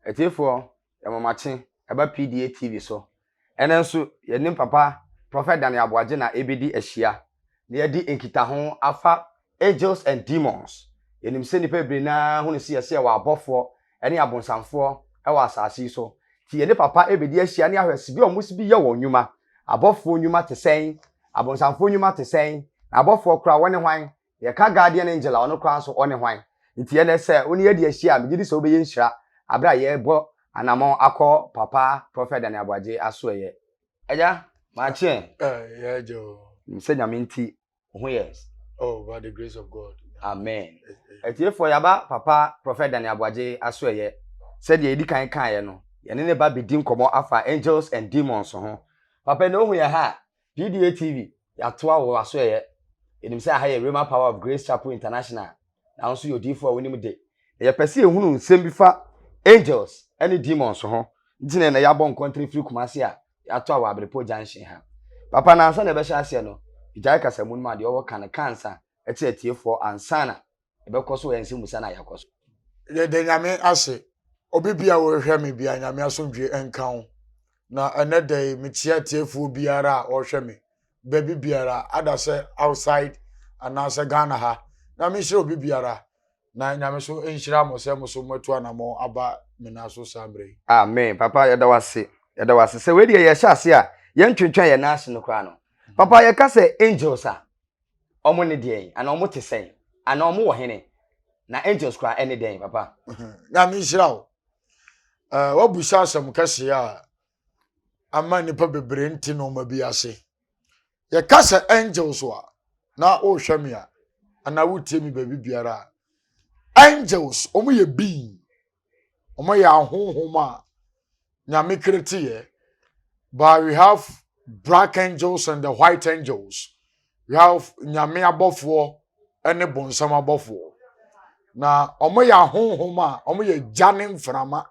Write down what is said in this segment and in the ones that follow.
Atiefoɔ, yɛma mo akye ɛba PDA TV so. Ɛnnɛ nso, yɛnim Papa Prɔfɛt Daniel Aboagye na ɛrebɛdi ahyia na yɛadi nkitaho afa Angels and Demons. Yɛnim sɛ nnipa bebree no ara hu no sɛ yɛse yɛwɔ abɔfoɔ ne abonsamfoɔ wɔ asase yi so. Nti yɛne Papa rebɛdi ahyia ne ahwɛ sɛdeɛ wɔsi bi yɛ wɔn nnwuma. Abɔfoɔ nnwuma te sɛn? Abonsamfoɔ nnwuma te sɛn? Na abɔfoɔ koraa wɔne hwan Yɛka guardian angel a, ɔno koraa nso ɔne hwan? Nti ɛnnɛ sɛ wo ne yɛadi ahyia a, megye di sɛ wobɛyɛ nhyira berɛ a yɛrebɔ anammɔn akɔ Papa Prɔfɛt Daniel Aboagye asoɛeɛ. Agya, makye ɛ. Aye, yɛ agya o. Nim sɛ Nyame nti, wo ho yɛ. Oh, by the grace of God. Amen. Atiefoɔ, yɛaba Papa Prɔfɛt Daniel Aboagye asoɛeɛ. Sɛdeɛ yɛdi kan kaeɛ no, yɛne ne ba bɛdi nkɔmmɔ afa angels and demons ho. Papa, ɛnnɛ wohu yɛn ha a, PDA TV, yɛatoa wo w'asoɛeɛ. Yɛnim sɛ aha yɛ Rhema Power of Grace Chapel International, na wo nso yɛ odiyifoɔ a wonim de. Na yɛpɛ sɛ yɛhunu nsɛm bi fa angels ne demons ho. Nti na ɛnɛ yɛabɔ nkɔntere firi Kumasi a yɛatoa wɔ Abrepɔ Junction ha. Papa, na ansa na yɛbɛhyɛ aseɛ no, gyae kasamu no ma deɛ ɔwɔ ka no ka ansa kyerɛ atiefoɔ ansa na ɛbɛkɔ so ɛnsɛ musa na yɛakɔ so. yɛda nyame ase obi bi a wɔhwɛ me bia nyame asomdwe nka wo na ɛnɛ da yi mekyia tiefoɔ biara a wɔhwɛ me baabi biara ada sɛ outside anaasɛ ghana ha nyame nhyira obi biara na nyame so nhyira mo sɛ mo so moatu anamɔ aba me na so saa mmerɛ yi amen papa yɛda wase yɛda wase sɛ wei deɛ yɛhyɛ ase a yɛntwentwɛn yɛn nan ase no koraa no papa yɛka sɛ angels a Wɔn ne deɛn? Anaa wɔn te sɛn? Anaa wɔn wɔ hene? Na angels koraa ɛne dɛn, papa? Nyame nhyira wo. Uh, wabusa asɛm kɛseɛ a ama nnipa bebree nte nneɛma bi ase. Yɛka sɛ angels a na wohwɛ me a anaa wotie me baabi biara a angels wɔn yɛ being Ɔmo yɛ ahonhom a nyame kereteyɛ. But we have black angels and the white angels. We have nyame abɔfoɔ ɛne bonsam abɔfoɔ. Na ɔmo yɛ ahonhom a ɔmo yɛ gya ne mframa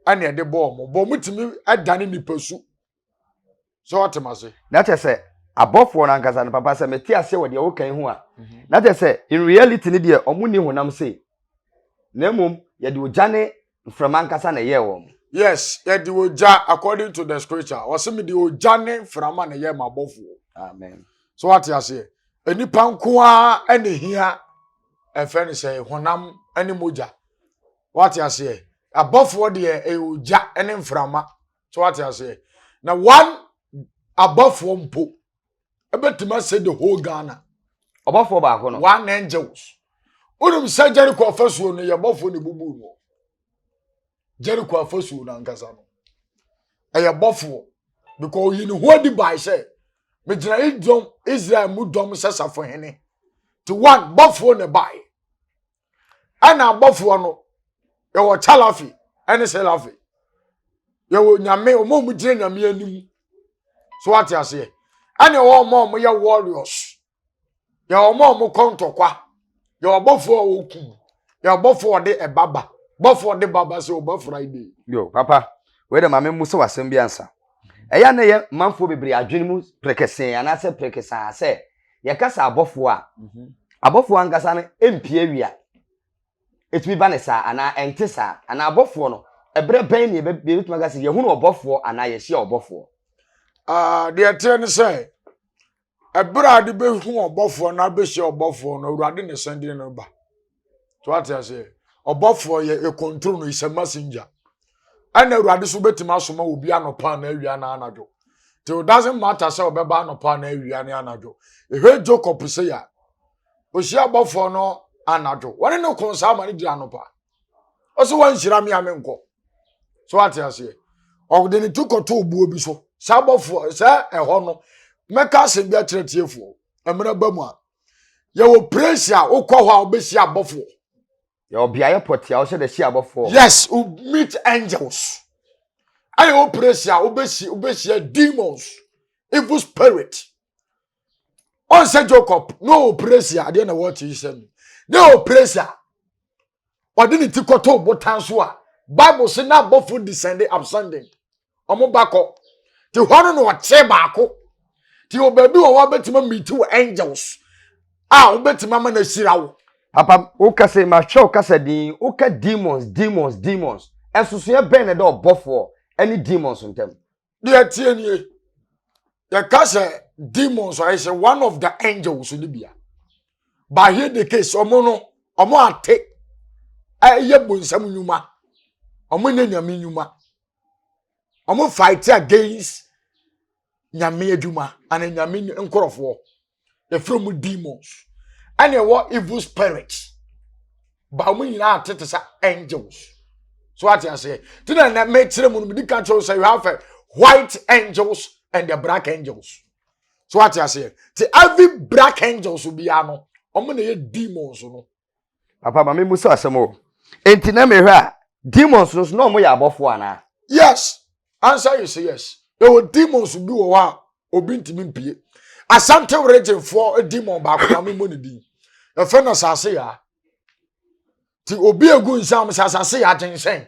ɛne ɛde bɔ ɔmo. Bɔ ɔmo tumi ɛdane nipa su. so ɔte ma se. na kyɛ sɛ abɔfoɔ no ankasa no papa sɛ mete ase wɔ deɛ wokan ho a mhm. na kyɛ sɛ in reality no deɛ ɔmo nni honam sei na mmom yɛde ogya ne mframa ankasa na ɛyɛɛ wɔn yes yɛde ogya according to the scripture wɔse mede ogya ne mframa na ɛyɛɛ m'abɔfoɔ amen so wate aseɛ nnipa nko ara ɛne hia ɛfɛ ne sɛ honam ne mogya wate aseɛ abɔfoɔ deɛ ɛyɛ ogya ne mframa so wate aseɛ na one abɔfoɔ mpo ɛbɛtumi asɛ the whole ghana ɔbɔfoɔ baako no one angels wonim sɛ jericho afasuo no yɛ bɔfoɔ ne bubu no jericho afasuo no ankasa no ɛyɛ bɔfoɔ because ɔyi ne ho adi bae sɛ megyina idɔm israel mu dɔm sɛ safo hene te one bɔfoɔ ne bae ɛna abɔfoɔ no yɛwɔ chalafi ɛne selafi yɛwɔ nyame wɔn a wɔn gyina nyame anim so ate aseɛ ɛna ɛwɔ wɔn a wɔn yɛ warriors yɛwɔ wɔn a wɔn kɔ ntɔkwa yɛwɔ abɔfoɔ a wɔku yɛwɔ abɔfoɔ a wɔde ɛbaba bɔfoɔ a wɔde baba sɛ ɔba friday. yo papa wei dɛ maame mu sɛ wasɛm bi ansa ɛyɛ na ɛyɛ manfoɔ bebree adwene mu prekesee anaasɛ prekesaa sɛ yɛka sɛ abɔfoɔ a mhm. abɔfoɔ ankasa no ɛmpie awia ɛtumi ba ne saa anaa ɛnte saa anaa abɔfoɔ no ɛberɛ bɛn ne yɛbɛtumi aka sɛ yɛhunu ɔbɔfoɔ anaa yɛhyia ɔbɔfoɔ deɛ ɛteɛ ne sɛ ɛberɛ a de bɛhu ɔbɔfoɔ no abɛhyia ɔbɔfoɔ no awurade ne sɛndeɛ no ba to ate aseɛ ɔbɔfoɔ yɛ ɛkɔntro no is a messenger ɛna awurade so bɛtumi asoma obi anɔpa anaa awia na anadwo till doesn't matter sɛ ɔbɛba anɔpa anaa awia ne anadwo ɛhwɛ jacob sɛ yɛ a ɔhyia abɔfoɔ no anadwo wɔne ne ko saa ma ne gyina anɔpa ɔsɛ wanhyira me a menkɔ so ate aseɛ ɔde ne ti kɔto obuo bi so saa abɔfoɔ sɛ ɛhɔ no mɛka asɛm bi akyerɛ tiefoɔ mmerɛ ba mu a yɛwɔ praise a wokɔ hɔ a wobɛsi abɔfoɔ yɛwɔ beaeɛ pɔte a wosɛ dɛ si abɔfoɔ yes wo meet angels ɛyɛ wo praise a wobɛsi wobɛhyia demons evil spirit ɔnsɛ jacob na ɔwɔ praise a adeɛ na wɔte yi sɛ no na ɛwɔ praise a ɔde ne ti kɔtoo botan so a bible se na abɔfo descende absending ɔmo ba kɔ te hɔ no na ɔkyerɛ baako te wɔ baabi wɔ hɔ a bɛtumi amiti wɔ angels a wobɛtumi ama no ahyira wo papa woka sɛ mahwɛ wo kasa din woka demons demons demons ɛnsosoɛ bɛn na ɛda ɔbɔfoɔ ne demons ntam deɛ ɛteɛ nie yɛka sɛ demons ayɛ sɛ one of the angels no bia but here the case ɔmo no ɔmo ate ɛyɛ bonsam nnwuma ɔmo nyɛ nyame nnwuma ɔmo fight against nyame adwuma ana nyame nkorɔfoɔ yɛfrɛ mu demons ɛna ɛwɔ evil spirits ba wɔn nyinaa te te sɛ angels so ate aseɛ te na ɛnɛ mɛkyerɛ mu no mede ka kyerɛw sɛ you have a white angels and the black angels so ate aseɛ te every black angels biara no wɔn na ɛyɛ demons no papa ma memu sɛ asɛm o enti na mehwɛ a demons no so na ɔmo yɛ abɔfoɔ anaa yes answer is yes ɛwɔ demons bi wɔ hɔ a obi ntumi mpie asante regyefoɔ demon baako ma memu ne din ɛfɛ na asase yaa ti obi egu nsam sɛ asase yaa gyenhyɛn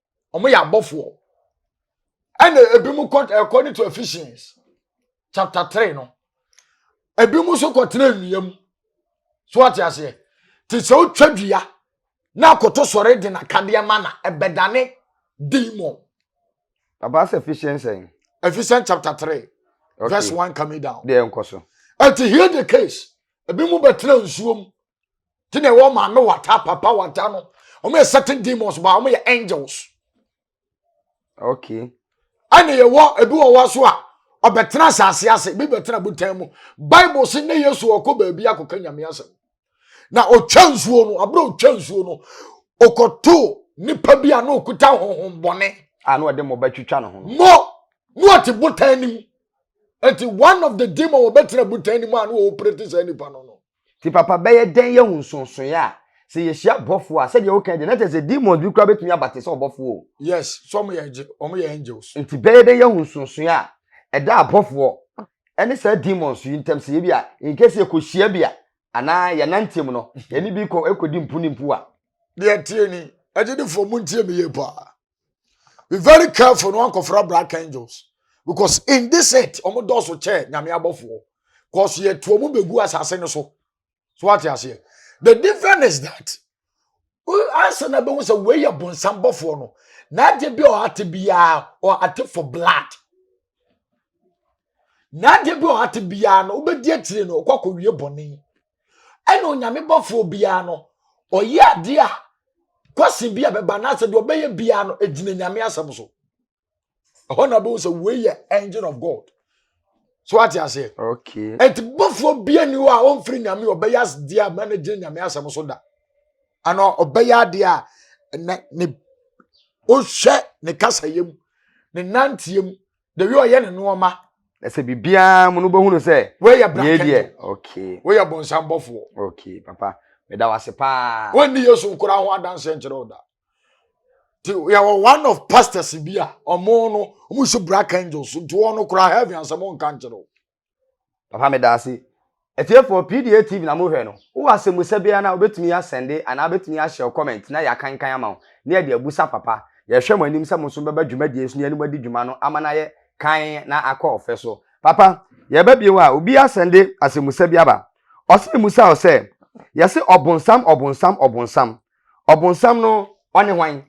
wɔn yɛ abɔfoɔ ɛna ebinom kɔ according to Ephesians chapter three no ebinom nso kɔ tena nnua mu so ate aseɛ te sɛ otwa dua na akoto sɔre de n'akadeɛ ma na ɛbɛdane demon. papa sɛ Ephesians sɛn. Ephesians chapter three okay. verse one coming down. deɛ nkɔ so. ɛti hear the case ebinom bɛtena nsuom nti na ɛwɔ ma no wata papa wata no wɔn yɛ certain demons ba wɔn yɛ angels okay ɛna yɛwɔ ebi wɔ hɔ so a ɔbɛtena asase ase bi bɛtena botan mu bible si ne yesu ɔkɔ baabi akɔka nyame asɛm na ɔtwa nsuo no abere ɔtwa nsuo no ɔkɔto nipa bi a na ɔkuta honhom bɔne a na ɔde mɔba twitwa ne ho mɔ na ɔte botan no mu nti one of the demon wɔbɛtena botan no mu a na ɔɔpere te saa nipa no no Nti papa bɛyɛ dɛn yɛhu nsonsoeɛ a sɛ yɛhyia bɔfoɔ a sɛdeɛ wokae deɛ na kyerɛ sɛ demons bi koraa bɛtumi aba te sɛ ɔbɔfoɔ o. Yes, so wɔn yɛ angel, wɔn yɛ angels. Nti bɛyɛ dɛn yɛhu nsonsoeɛ a ɛda abɔfoɔ ɛne saa demons yi ntam sɛ ebi a in case yɛkɔhyia bi a anaa yɛnanteɛ mu no yɛne bi kɔ ɛkɔdi mpu ne mpu a. Deɛ ɛteɛ ni, agyidifoɔ montie me yie paa. be very careful no ankɔfra black angels because in this earth wɔn dɔɔso kyɛ nyame abɔfoɔ cause yɛtu wɔn bɛgu asase no so so wate aseɛ the difference is that ansa na bɛhu sɛ wei yɛ bonsam bɔfoɔ no na agye bi a ɔate biara ɔate for blood na adeɛ bi a ɔhate biara no wobɛdi akyire no ɔkɔ akɔwie bɔne ɛna onyame bɔfoɔ biara no ɔyɛ adeɛ a kwasi bi a bɛba anaasɛ deɛ ɔbɛyɛ biara no ɛgyina nyame asɛm so ɛhɔ na wobɛhu sɛ wei yɛ engine of god so ate aseɛ okay. ɛnti bɔfoɔ bia ni hɔ a ɔmfiri nyame ɔbɛyɛ adeɛ a ma no gyina nyame asɛm so da ana ɔbɛyɛ adeɛ a ne ɔhwɛ ne kasayɛ mu ne nanteɛ mu the way ɔyɛ ne nneɛma ɛsɛ biribiara mu no bɛhunu sɛ woyɛ brankɛdeɛ okay woyɛ bɔnsambɔfoɔ okay papa meda wase paa wɔnni yesu nkora ho adanseɛ nkyerɛ wo da nti yɛwɔ one of pastors bi a ɔmo no ɔmo si black angels nti wɔn no kora heaven asɛm nka nkyerɛ wo Papa meda ase. Atiefoɔ PDA TV na mohwɛ no, wowɔ asɛmmusa biara no a wobɛtumi asɛnde anaa wobɛtumi ahyɛ comment na yɛakankan ama wo na yɛde abusa papa. Yɛhwɛ mo anim sɛ mo nso mobɛba dwumadie so na yɛne mo adi dwuma no ama no ayɛ kann na akɔ ɔfɛ so. Papa, yɛreba bio a, obi asɛnde asɛmmusa bi aba. Ɔse memmusa wo sɛ, yɛse ɔbonsam ɔbonsam ɔbonsam, ɔbonsam no ɔne hwan?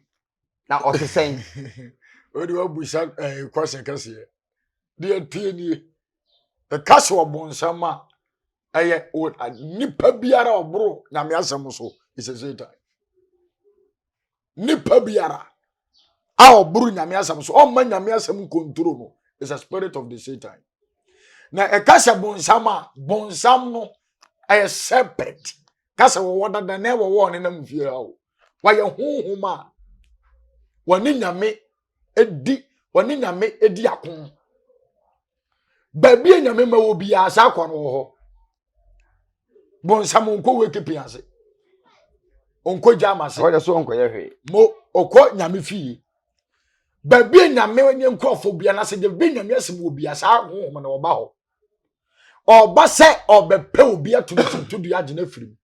na ɔte sɛn wode wabusa eh, kwasɛ kɛseɛ deɛ tie nie ɛka sɛ ɔbonsam a ɛyɛ nipa biara ɔboro nyame asɛm so ɛsɛ satan nipa biara a ɔboro nyame asɛm so ɔmma nyame asɛm nkonturo no is a spirit of the satan na ɛka sɛ bonsam a bonsam no ɛyɛ serpent ka sɛ wɔwɔ dada na ɛwɔ wɔn nenam fie hɔ wɔayɛ honhom a wɔne nyame di wɔne nyame di ako baabi a nyame ma wɔ biara saa kwan wɔ hɔ bonsam nkɔ wekipi ase nkɔ gyama ase ɔyɛ so nkɔyɛ hwee mo ɔkɔ nyame fie baabi a nyame ne nkurɔfoɔ bia na sɛ de bi nyame asɛm wɔ bia saa honhom na wɔba hɔ ɔba sɛ ɔbɛpɛ obi atumi tutu dua agye no afiri mu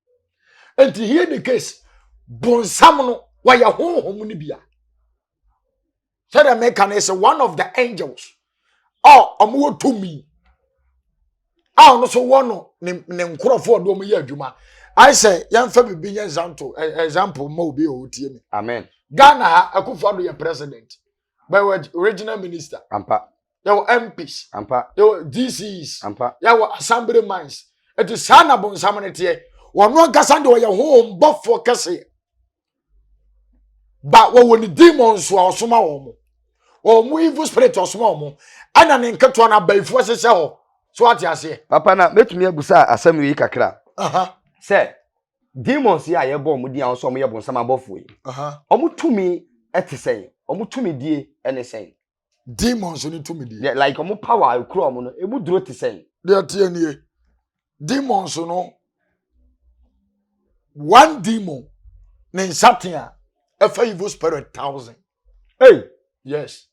nti here the case bonsam no wɔyɛ honhom no bia sɛdeɛ meka no sɛ one of the angels a ɔmowɔ tumi a ɔno so wɔ no ne nkurɔfoɔ ɔde ɔmo yɛ adwuma ayɛ sɛ yɛmfa biribi nyɛ example example ma obi a ɔtie me amen ghana ha akufo ado yɛ president bɛwɔ regional minister ampa yɛwɔ mps ampa yɛwɔ dcs ampa yɛwɔ assembly mines ɛti saa na bonsam no teɛ wɔn ankasa deɛ ɔyɛ honhom bɔfoɔ kɛseɛ ba wɔwɔ ne demons a ɔsoma wɔn mo wɔn mo evil spirit ɔsoma wɔn mo ɛna ne nketewa no abayifoɔ hyehyɛ hɔ so ate aseɛ. papa na mɛtumi abusa asɛm yi kakra sɛ demons yi a yɛbɔ wɔn din a wɔn sɛ wɔn yɛ bonsam abɔfoɔ yi wɔn tumi te sɛn wɔn tumi die ne sɛn. demons no tumidie. deɛ like ɔmo power a ekura ɔmo no emu duro te sɛn. deɛ tie nie demons no one demon ne nsatea ɛfɛ evil spirit thousand. Hey. yes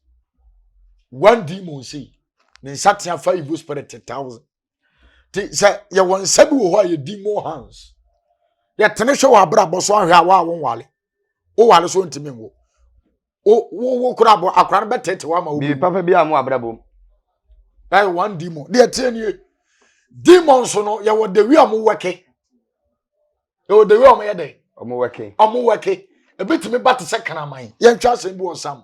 one demon si ne nsatea fa evil spirit thousand. nti sɛ yɛwɔ nsa bi wɔ hɔ a yɛdi more hands yɛtene hwɛ wɔ abrabɔ so ahwɛ a wɔ a wonwale wowale so ntumi nwo wo kora abɔ akora no bɛtete wama wo bi papa bi a mo abrabɔ mu ɛyɛ one demon deɛ ɛteɛ nie demon so no yɛwɔ dewi a mo wɛke yɛwɔ dewi a mo yɛ dɛ ɔmo wɛke ɔmo wɛke ebitumi ba te sɛ kraman yɛntwa asɛm bi wɔ sam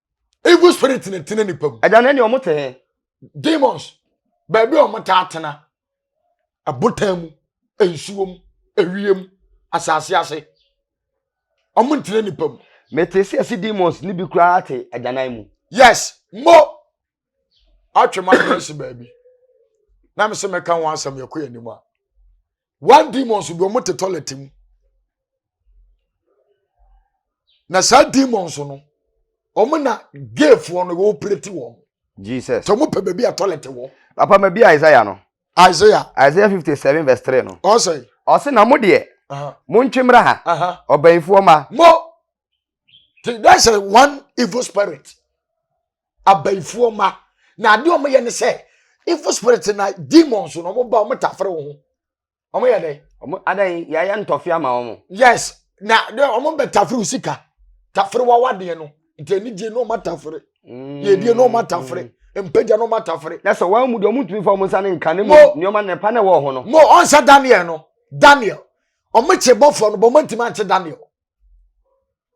evil spirit na ɛtena nipa mu. ɛda no ɛne ɔmo te he. demons baabi a ɔmo taa tena abotan mu nsuo mu ewiem asase ase ɔmo ntena nipa mu. mete sɛ ɛsi demons ne bi koraa te agyanan mu. yes mo atwe ma adrɛse baabi na me sɛ mɛka ho asɛm yɛkɔ yɛn anim a. one demons bi wɔn te toilet mu na saa demons no wɔn na gayfoɔ no wɔn pireti wɔn. jesus sɛ wɔn pɛ baabi a toilet wɔ. papa ma bi isaiah no. isaiah. isaiah fifty seven verse three no. ɔsɛ. ɔsɛ na mo deɛ. mo ntwe mmra ha. ɔbɛnfoɔ ma. mo that's a one evil spirit abayifoɔ ma na adeɛ wɔn yɛ ne sɛ evil spirit na demons na wɔn ba wɔn tafere wɔn ho wɔn yɛ dɛ. wɔn adan yɛayɛ ntɔfe ama wɔn. yes na wɔn bɛ tafere wo sika tafere wawa deɛ no nti anigye na wɔn atafere mm. yɛdie na wɔn atafere mpagya na wɔn atafere. na sɛ wɔn mu deɛ wɔn ntumi fa wɔn nsa ne nka ne mu nneɛma na ɛpa na ɛwɔ ho no. mo ɔnsa daniel no daniel wɔn kye bɔfoɔ no bɔn wɔn ntumi ankye daniel.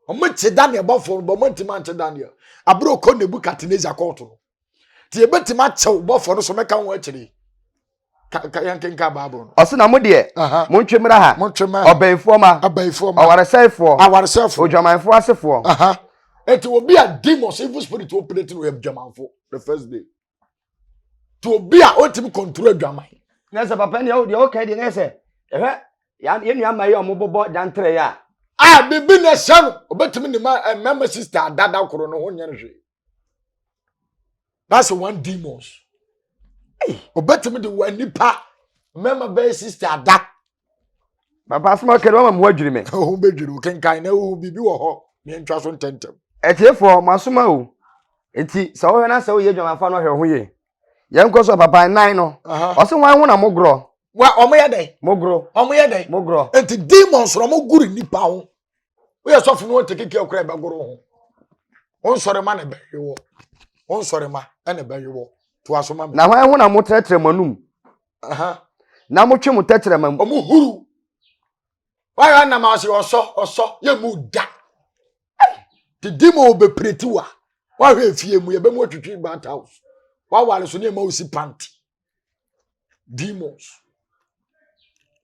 wɔn te daniel bɔfoɔ no bɔ wɔn ntoma nte daniel abere okɔ nebukadnezar kɔɔto no te ebetumi akyɛw bɔfoɔ no so mɛka wɔn akyire ka ka yɛn kenka baabul no. ɔsi na mo deɛ Aha. mo ntwe mmra ha mo ntwe mɛ ɔbɛnfoɔ ma abayifoɔ ma ɔwaresɛefoɔ awaresɛfoɔ odwamanfoɔ asefoɔ aha eti obi a demons evil spirit operate no yɛ dwamanfo the first day to obi a ɔntumi kɔntoro adwaman na sɛ papa nea deɛ ɔka deɛ na sɛ ɛhwɛ yɛn nua ma yi a wɔbobɔ dantere yi a a biribi na ɛhyɛ no ɔbɛtumi ne ma eh, mmarima sista adada koro no ho nyɛ no hwee that's one demons ɔbɛtumi de wɔn nipa mmarima bɛyɛ sista ada papa asoma kɛdɛ wama mo adwiri me ho bɛdwiri wo kenkan na wohu biribi wɔ hɔ meɛntwa so ntɛntɛm atiefoɔ mo asoma o nti sɛ wohwɛ no sɛ woyɛ adwamafa no hwɛ ho yie yɛnkɔ so papa nan no ɔse wan ho na mogorɔ wa ɔmo yɛ dɛn mogorɔ ɔmo yɛ dɛn mogorɔ nti demons na ɔmo goro nipa ho woyɛ sɔfo no wɔte keke akora ɛbɛgoro ho wonsɔre ma na ɛbɛwe wɔ wonsɔre ma ɛna ɛbɛwe wɔ to aso ma na hwan ho na motrɛtrɛ mo anum na mo twe mo tɛkyerɛma mu. ɔmo huru wayɛ anam ase ɔsɔ ɔsɔ yɛ mu da didi ma ɔbɛpireti wa wahwɛ efie mu yɛbɛ mu atwitwi bat house wawale so ne ɛma osi panti demons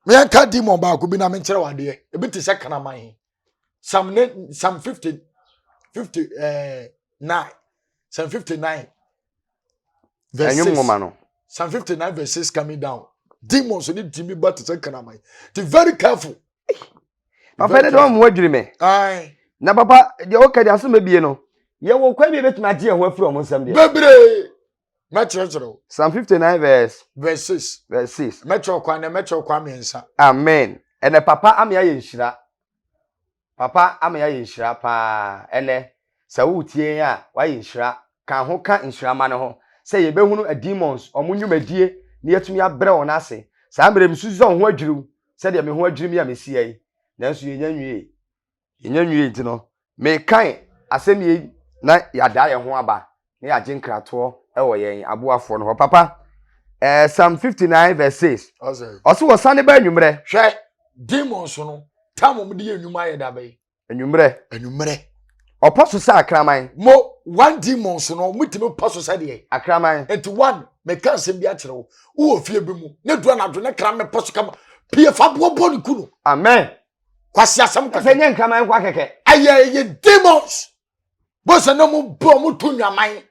meyɛnka demon baako bi na menkyerɛ wadeɛ ebi te sɛ kraman psalm ne psalm fifty fifty ɛɛ eh, nine psalm fifty nine verse six psalm fifty nine verse six coming down demons ni ti mi ba ti sɛ karaman ti very careful. papa ne dɔn mu adwiri mɛ. na papa deɛ ɔka deɛ aso mɛ bie no yɛwɔ kwan bi ebetumi agye yɛn ho afiri wɔn nsam deɛ. bebree. Mɛkyerɛkyerɛ wo. Psalm 59 verse. Verse 6. Verse 6. Mɛkyerɛ kwan na mɛkyerɛ kwan mmiɛnsa. Amen. Ɛnɛ papa ama yɛayɛ nhyira. Papa ama yɛayɛ nhyira paa ɛnɛ. Sɛ woretie yɛn a, wayɛ nhyira. Ka ho ka nhyira ma no ho. Sɛ yɛbɛhunu demons, wɔn nnwumadie, na yɛatumi abrɛ wɔn ase. Saa mmerɛ yi, mesusu sɛ wo ho adwiri wo, sɛdeɛ me ho adwiri me a mesi ha yi. Nanso yɛnya nwie. Yɛnnya nwiei nti no, mekae asɛm yei na yɛadaa yɛn ho aba na yɛagye nkratoɔ wɔ yɛn aboafoɔ no hɔ. Papa, eh, Psalm 59 verse 6, Ɔsɛ. ɔse wɔsane ba anwummerɛ. Hwɛ, demons no, tam wɔn de yɛ nnwuma ayɛ da bɛn? Anwummerɛ. Anwummerɛ. Ɔpɔ so sɛ akraman. Mo, one demons no, wɔtumi pɔ so sɛ deɛ. Akraman. Nti one, meka nsɛm bi akyerɛ wo, wowɔ fie bi mu, na du anadwo na kraman pɔ so kama, pie fa boɔ bɔ ne ku no. Amen. kwasi asɛm kɛkɛ. ɛsɛ nyɛ nkraman nkwa kɛkɛ. ɛyɛ ɛyɛ demons bɔsɛ na mo bɔ mo to nwaman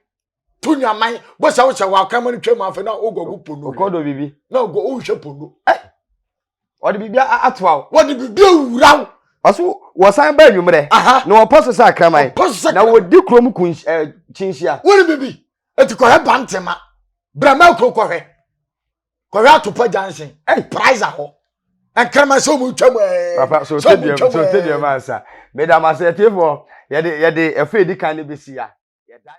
to nwaman bɔsɛ awo sɛ wɔ akraman no twam afɛ na o gɔ ko pono. okɔ do bibi. na o gɔ o nhwɛ pono. ɛ wɔde bibi ato awo. wɔde bibi awura wo. ɔso wɔsan ba enyimrɛ. na wɔpɔ so sɛ akraman. wɔpɔ so sɛ akraman. na wɔdi kurom kun ɛ kyinhyia. wɔn bibi eti kɔhɛ bantema brama kuro kɔhɛ. kɔhwɛ atopa junction ɛyi priza hɔ nkarama sɛ ɔmu twam ɛɛ papa so tediam so tediam ansa meda ma sɛ tiefo yɛde yɛde ɛfɛ edi kan ne besi ya yɛda.